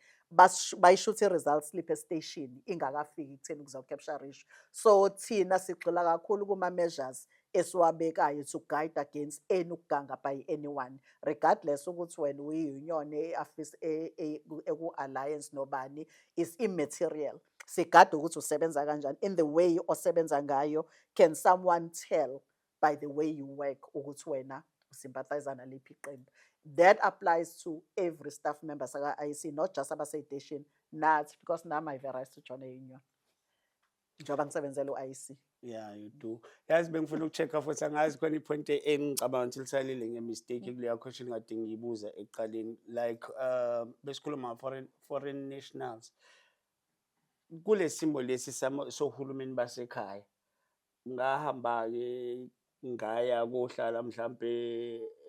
bayishuthe results slip estation ingakafiki kutheni kuzo capture ratio so thina sigxila kakhulu kuma measures esiwabekayo to guide against any ukuganga by anyone regardless ukuthi wena uyi union e office e, e, e ku alliance nobani is immaterial sigade ukuthi usebenza kanjani in the way osebenza ngayo can someone tell by the way you work ukuthi wena usympathizer naliphi iqembu that applies to every staff member saka-ic not just abaseyiteshini nathi because nam ive right to join a union njengoba ngisebenzela u-ic Yeah, you do. Yazi bengifuna ukucheck-a futhi angazi khona i-point e- engicabanga ukuthi lisalile nge-mistake kuleya question kade ngiyibuza ekuqaleni like uh, besikhuluma nga-foreign foreign nationals kule simo lesi samo- sohulumeni basekhaya ngahamba-ke ngaya kohlala mhlampe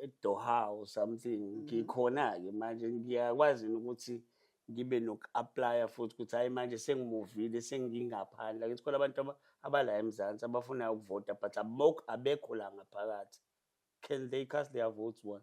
eDoha or something mm. ngikhona ke manje ngiyakwazi ukuthi ngibe noku-aplya futhi ukuthi hayi manje sengimuvile sengingaphandle akithi khona abantu abala emzansi abafunayo ukuvota but abekho la ngaphakathi can they cast their votes one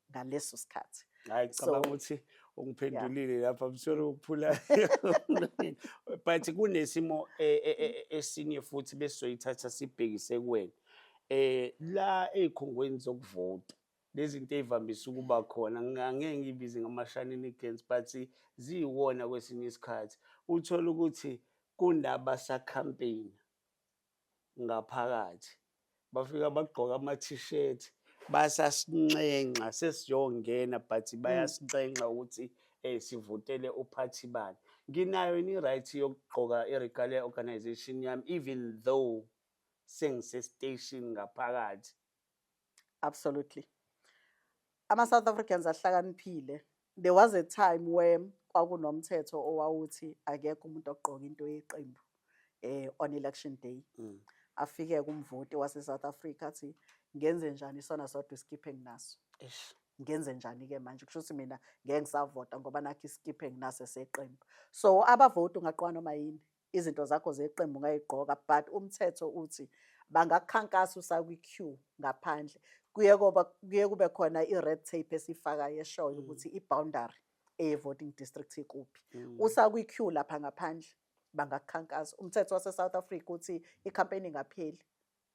ngaleso sikhathi hayi cabanga ukuthi ungiphendulile lapha msolo ukuphula but kunesimo e, e, e, esinye futhi besizoyithatha sibhekise kuwena eh la ezikhungweni zokuvota lezinto ezivamise ukuba khona ngangeke ngibize ngama-shenanigans but ziyiwona kwesinye isikhathi uthole ukuthi kunabasakhampeyina ngaphakathi bafika bagqoka ama-t-shirt basasinxenxa sesiyongena but hmm. bayasinxenxa ukuthi um sivotele uphathi bani nginayo ini-right yokugqoka i-regalia organization yami even though sengisestation ngaphakathi Absolutely. Ama South Africans ahlakaniphile. There was a time where kwakunomthetho owawuthi akekho umuntu ogqoka into yeqembu eh on election day. Mm. Afike kumvoti wase South Africa athi ngenze njani isona sodwa iskiphe nginaso. Eish. ngenze njani ke manje kusho ukuthi mina ngeke ngisavota ngoba nakho iskiphe nginase seqembu so abavoti ungaqwa noma yini izinto zakho zeqembu ngayigqoka but umthetho uthi bangakhankasa usakwi queue ngaphandle kuye koba kuye kube khona i red tape esifaka yeshoyo mm. ukuthi i boundary e voting district ikuphi mm. usakwi queue lapha ngaphandle bangakhankasa umthetho wase South Africa uthi i campaign ingapheli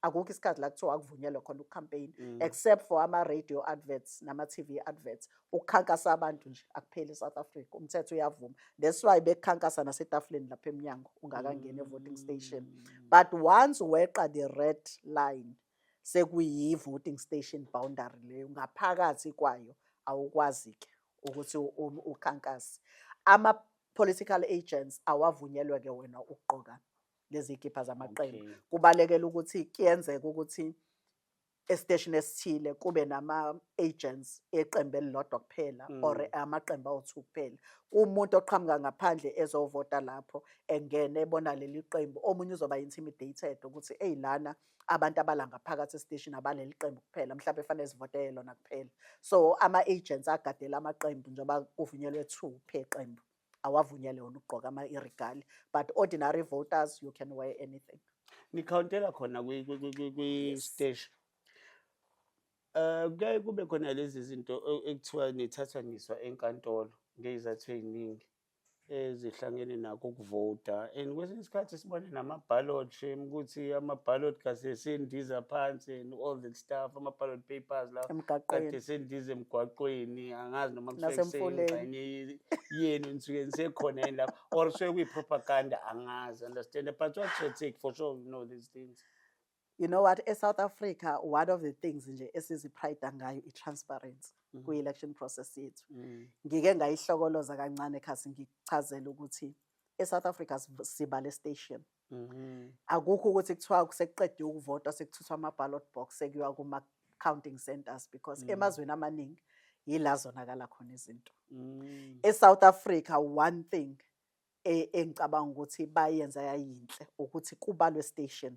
akukho isikhathi la kuthiwa akuvunyelwe khona ucampaign mm. except for ama radio adverts nama TV adverts ukukhankasa abantu nje akupheli eSouth Africa umthetho uyavuma that's why bekukhankasa nasetafuleni lapha eminyango ungakangena evoting station mm. but once weqa the red line sekuyi voting station boundary leyo ngaphakathi kwayo awukwazi ke ukuthi ukhankase ama political agents awavunyelwe ke wena ukugqoka ngezikibha zamaqembu okay. kubalekela ukuthi kuyenzeka ukuthi esiteshini esithile kube nama-agents eqembu elilodwa kuphela mm. or amaqembu awu-two kuphela kumuntu oqhamuka ngaphandle ezovota lapho engene ebona leli qembu omunye uzoba intimidated ukuthi eyi lana abantu abala ngaphakathi esiteshini abaleli qembu kuphela mhlawumbe fanele zivotele lona kuphela so ama-agents agadela amaqembu njengoba kuvunyelwe two phe qembu awavunyelwe wona ukugqoka ama irigali but ordinary voters you can wear anything nikhawuntela khona kwisteshi um kuyaye kube khona lezi zinto e, ekuthiwa nithathwa niswa enkantolo ngeyizathu ey'ningi ezihlangene nakho ukuvota and kwesinye isikhathi sibone namabhalot shame ukuthi amabhalot kasesendiza phansi and all that stuff ama-ballot papers la Emgaqweni. kade sendize emgwaqweni angazi noma kusuke Nasemfuleni. kuseyingxenye yenu enisuke nisekhona yini lapho or kusuke kuyi-propaganda angazi understand but what should take for sure you know these things you know what e-south africa one of the things nje esiziprida ngayo i-transparency Mhm. kwi-election process yethu Mm. ngike ngayihlokoloza kancane khasi ngichazele ukuthi e-south africa siv- siba le station Mhm. akukho ukuthi kuthiwa sekuqedwe ukuvota sekuthuthwa ama-ballot box sekuyiwa kuma-counting centers because Mm. emazweni amaningi yila zonakala khona izinto Mm. e-south africa one thing e- engicabanga ukuthi bayenza yayinhle ukuthi kubalwe station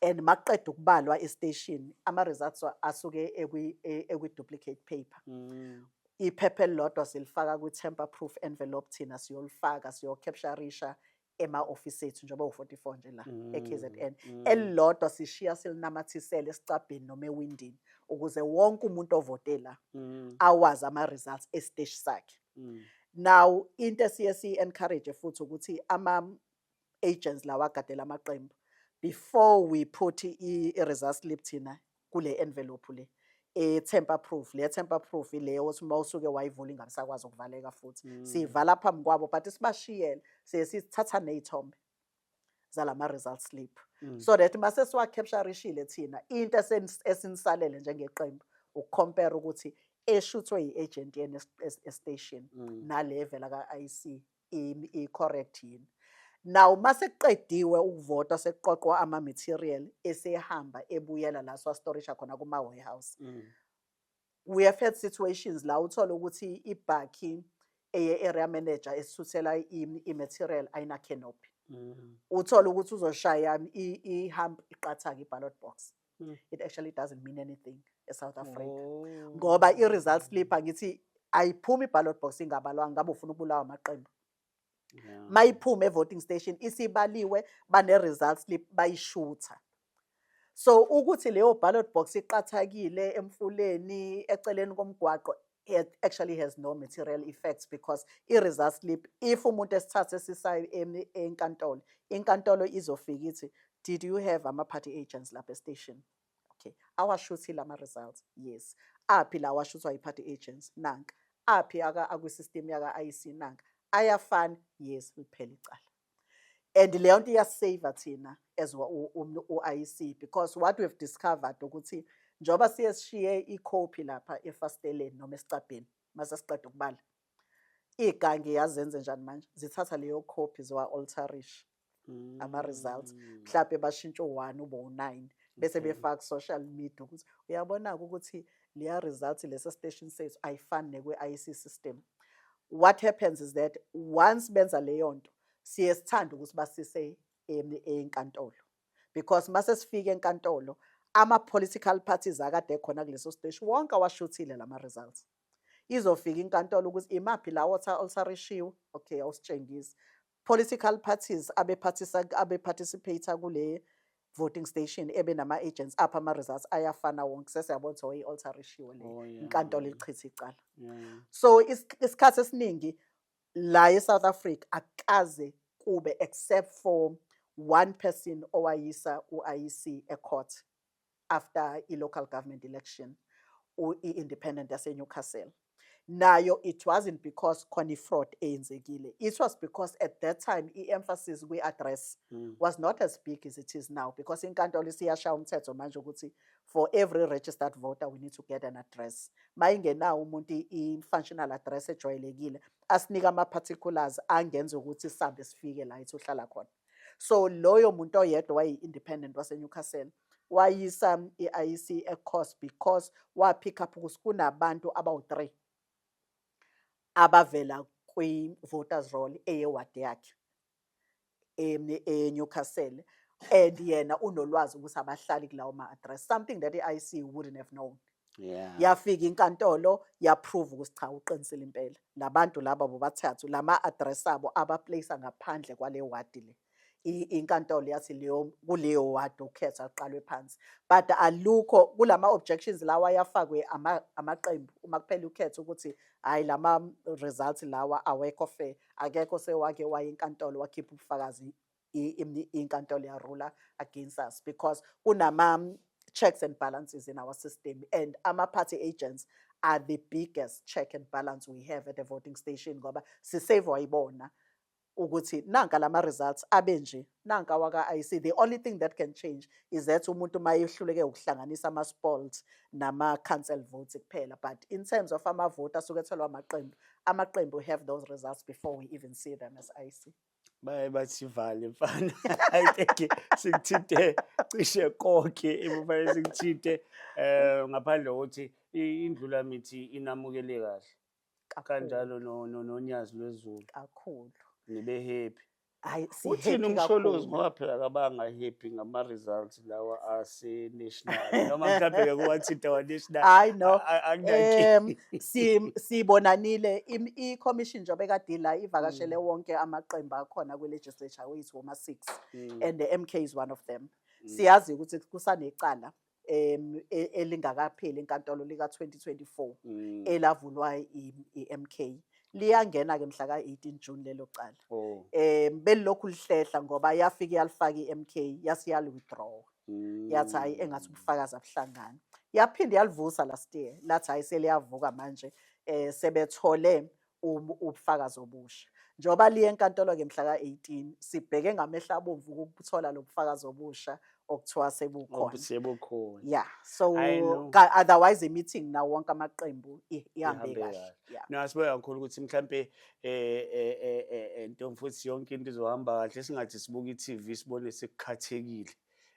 and makuqeda ukubalwa estation ama-results wa- asuke ekwi- e- ekwi-duplicate paper Mm. iphepha elilodwa silifaka kwi-temper proof envelope thina siyolifaka siyocapturisha ema-ofisi ethu njengoba u-44 nje la mm, e-kzn mm. elilodwa sishiya silinamathisele esicabheni noma ewindini ukuze wonke umuntu ovote la mm. awazi ama-results esiteshi sakhe mm. now into esiye siyi-encourage futhi ukuthi ama-agents lawa agadela amaqembu before we put i-result slip thina kule envelope le e-temper proof le temper proof ile othi uma usuke wayivula ingabisakwazi ukuvaleka futhi mm. siyivala phambi kwabo but sibashiyele siye sithatha ney'thombe zalama result slip mm. so that mase siwa capturishile thina into esinisalele njengeqembu ukucompare ukuthi eshuthwe yi-agent yena estation mm. nale evela ka-IC i correct yini now masekuqediwe ukuvota sekuqoqwa ama material esehamba ebuyela la swa storisha khona kuma warehouse mm. we have had situations la uthola ukuthi ibhakhi eye area manager esithuthela i material ayina canopy mm. uthola ukuthi uzoshaya i hump iqathaka i ballot box mm. it actually doesn't mean anything eSouth Africa oh. ngoba i-result slip angithi ayiphumi i-ballot box ingabalwanga ngabe ufuna ukubulawa amaqembu yeah. mayiphume e-voting station isibaliwe bane-result slip bayishutha so ukuthi leyo ballot box iqathakile emfuleni eceleni komgwaqo it actually has no material effects because i-result slip if umuntu esithathe sisayo enkantolo inkantolo izofika ithi did you have ama-party agents lapha estation okay awashuthi lama-results yes aphi la washuthwa yi-party agents nanka aphi akwisystem yaka-ic nanka ayafana yes liphela icala and leyo nto iyasave thina as u-IEC because what we've discovered ukuthi njengoba siye sishiye ikhophi lapha efasteleni noma esicabheni mase siqeda ukubala igangi yazenze njani manje zithatha leyo khophi ziwa-altarish mm. ama-results mhlawumbe bashintshe u-one ube u-nine bese mm-hmm. befaka social media ukuthi uyabona-ke ukuthi Leya result lesa station sethu ayifani nekwe IC system. What happens is that once benza leyo nto siye sithanda ukuthi basise enkantolo because mase sifike enkantolo ama political parties akade ekhona kuleso station wonke awashuthile lama results. Izofika inkantolo ukuthi imaphi lawo olsarishiwe okay awusitshengisi political parties abephathisa abeparticipate kule voting station ebe nama agents apha ama results ayafana wonke sesiyabona ukuthi oyi alter ratio le Oh, yeah. inkantolo ichitha icala Yeah. so is- isikhathi esiningi la eSouth Africa akaze kube except for one person owayisa uIC ecourt after i local government election i independent yase Newcastle nayo it wasn't because khona i fraud eyenzekile it was because at that time i emphasis kwi address mm. was not as big as it is now because inkantolo isiyashaya umthetho manje ukuthi for every registered voter we need to get an address mayingenawo umuntu i functional address ejwayelekile asinika ama particulars angenza ukuthi sambe sifike la ithi uhlala khona so loyo muntu oyedwa wayi-independent wasenewcastle wayisa i-iec ecourse because wapick up ukuthi kunabantu abawu-three abavela kwi-voters roll eyewadi yakhe enewcastle and yena unolwazi ukuthi abahlali kulawo ma-address something that i-iec wouldn't have known yeah. yafika inkantolo yaprove ukuthi cha uqinisile impela labantu laba bobathathu lama address abo abaplace ngaphandle kwale ward le inkantolo yathi leyo kuleyo ward ukhetha uqalwe phansi but alukho kulama objections lawa yafakwe amaqembu uma kuphela ukhetha ukuthi hayi lama results lawa awekho fair akekho sewake waye inkantolo wakhipha ubufakazi inkantolo ya ruler against us because kunama um, checks and balances in our system and ama party agents are the biggest check and balance we have at the voting station ngoba sisavwa ibona ukuthi nanka lama results abe nje nanka waka IC the only thing that can change is that umuntu mayehluleke ukuhlanganisa ama sports nama council votes kuphela but in terms of ama vote asukethelwa amaqembu amaqembu have those results before we even see them as IC baye basivale mfana i think sikuthinte cishe konke ekufanele sikuthinte um ngaphandle kokuthi indlula mithi inamukele kahle kanjalo nonyazi lwezulu kakhulu nibe happy hayi uthini umsholozi ngoba phela kabanga happy ngama-results lawa asenational noma mhlawumbe ke kuwathinta wanational hayi no um siyibonanile i-commission njengoba ekade ila ivakashele mm. wonke amaqembu akhona kwi-legislature wethu woma-six mm. and the mk is one of them mm. siyazi ukuthi kusanecala um elingakapheli inkantolo lika-2024 elavulwa i-mk liyangena ke mhla ka-18 June lelo cala oh. eh belilokhu lihlehla ngoba yafika yalifaka iMK yase yali withdraw mm. yathi hayi engathi ubufakazi abuhlangani yaphinde yalivusa last year lathi hayi seliyavuka manje eh sebethole ubufakazi obusha njengoba liye enkantolo ke mhla ka-18 sibheke ngamehla abomvu ukuthola lobufakazi obusha okuthiwa sebukhona sebukhona yeah so otherwise meeting nawo wonke amaqembu ihambe kahle yeah no asiboya kakhulu ukuthi mhlambe eh eh eh, eh, eh ntomfuthi yonke into izohamba kahle singathi sibuka iTV sibone sekukhathekile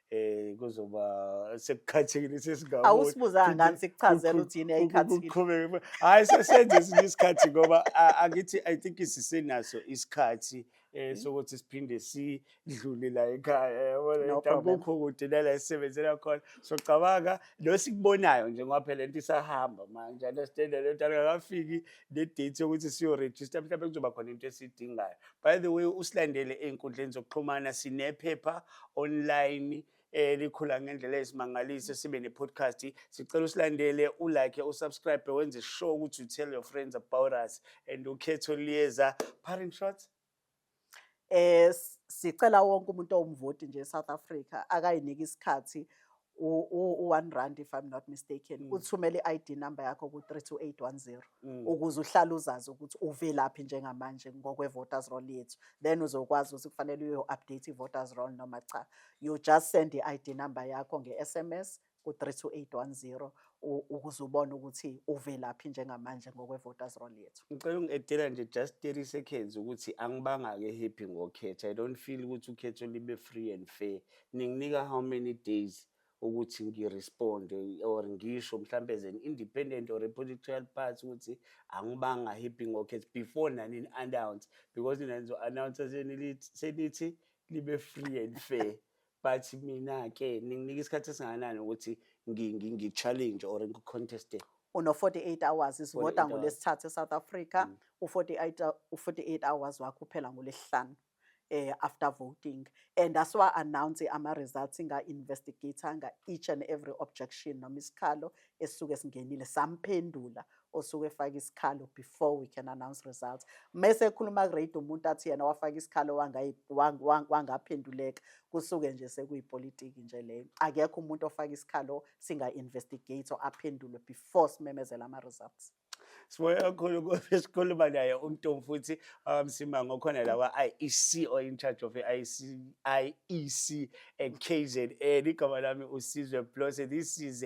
eh kuzoba sekukhathekile sesingabona awusibuzanga ngani sikuchazela ukuthi yini ayikhathekile uqhubeke hayi sesenze isikhathi ngoba angithi i think isisenaso isikhathi eh sokuthi siphinde sidlule la ekhaya yabona akukho kude nala esisebenzela khona socabanga lo sikubonayo nje ngoba phela lento isahamba manje understand le nto akafiki le date yokuthi siyo register mhlawumbe kuzoba khona into esidingayo by the way usilandele einkundleni zokuxhumana sinephepha online elikhula ngendlela ezimangalise sibe ne-podcast sicela usilandele ulike usubscribe wenze sure ukuthi you tell your friends about us and ukhetho liyeza parent shots eh sicela wonke umuntu owumvoti nje eSouth Africa akayiniki isikhathi u-one rand if i'm not mistaken mm. uthumele i-id number yakho ku-32810 mm. ukuze uhlale uzazi ukuthi uvelaphi njengamanje ngokwe-voters roll yethu then uzokwazi ukuthi kufanele uyo-update i-voters roll noma cha you just send i-id number yakho nge-sms ku-three two eight one zero ukuze ubone ukuthi uvelaphi njengamanje ngokwe-voters roll yethu ngicela ungi-edela nje just thirty seconds ukuthi angibanga-ke happy ngokhetha i don't feel ukuthi ukhetho libe free and fair ninginika how many days ukuthi ngiresponde or ngisho mhlawumbe as an independent or a political party ukuthi angibanga happy ngokhetha before nani ni-announce because nina nizo-announce senithi libe free and fair but mina ke ninginika isikhathi esingakanani ukuthi ngi- ngi- ngi-challenge or ngi-conteste uno-48 hours isivota 48 ngolesithathu e-south africa Mm. u-48 hou- u-48 hours wakho uphela ngolesihlanu eh after voting and asiwa-announce ama-results nga-investigator nga-each and every objection noma isikhalo esisuke singenile samphendula osuke efaka isikhalo before we can announce results mese ekhuluma kurate umuntu athi yena wafaka isikhalo wangaphenduleka kusuke nje sekuyipolitiki nje leyo akekho umuntu ofaka isikhalo singa-investigate or aphendulwe before simemezela ama-results siboya kakhulu ukuthi sikhuluma naye umntu futhi wakamsima ngokhona la kwa-IEC or in charge of i-IEC IEC and KZN igama lami usizwe Blose this is